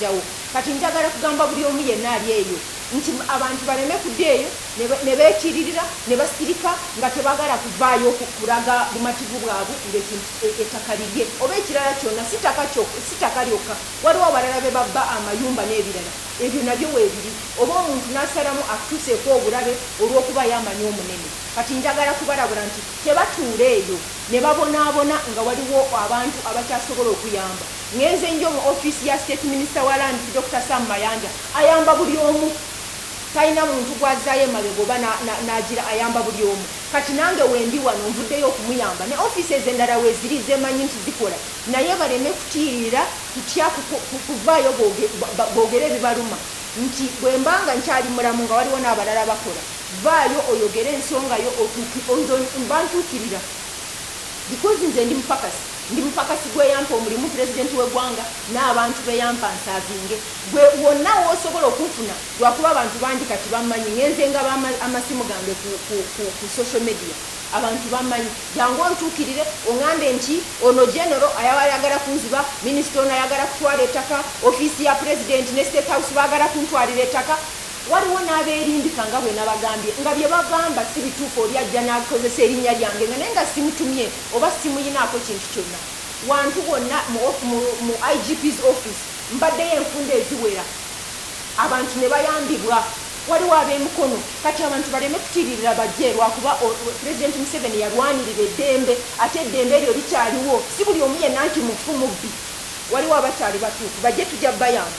jawo kati njagala kugamba buli omu yenna ali eyo nti abantu baleme kuda eyo nebekiririra nebasirika nga tebagala kuvaayo kulaga bumativu bwabwe ngaekintu e, ettaka lirye oba ekirala kyona sitaka lyokka waliwo abalala bebabba amayumba n'ebirala ebyo nabyo webiri oba omuntu nasalamu atuseeko obulabe olw'okubayo amanyi omunene kati njagala kubalabula nti tebatuula eyo nebabonaabona nga waliwo abantu abakyasobola okuyamba Ngenze njo mu office ya state minister wa lands Dokita Sam Mayanja ayamba buli omu talina muntu gwazayo emabega oba nagira ayamba buli omu kati nange wendi wano nvuddeyo okumuyamba ne offices endala weziri zemanyi nti zikola naye baleme kutiirira kutya kuvaayo bogere ebibaluma nti bwembanga nkyali mulamu nga waliwo nabalala bakola vaayo oyogere ensongayo otuuki nze mba ntuukirira because nze ndi mupakasi. Ndi mupakasi gw'eyampa omulimu, Pulezidenti w'eggwanga n'abantu be yampa nsaavinge gwe wonna w'osobola okunfuna lwakuba abantu bangi kati bammanyi. Ngenze ngaba amasimu gange ku ku ku ku social media abantu bammanyi. Jangu ontuukirire ong'ambe nti ono Genero ayaba ayagala kunziba, Minisita ono ayagala kutwala ettaka, ofiisi ya Pulezidenti ne State House baagala kuntwalira ettaka. Waliwo n'abeerimbika nga bwe nabagambye nga bye bagamba si bituufu oli ajja n'akozesa erinnya lyange nga naye nga simutumye. Oba ssimuyinaako kintu kyonna wantu wonna mu ofi, mu, mu IGP's office mbaddeyo enfunda eziwera abantu ne bayambibwa. Waliwo ab'e Mukono. Kati abantu baleme kutiiririra bajje lwakuba o, Pulezidenti Museveni yalwanirira eddembe. Ate eddembe eryo likyaliwo. Si buli omu yenna nti mufu, mubbi. Waliwo abakyali batuufu. Bajje tujja bayamba.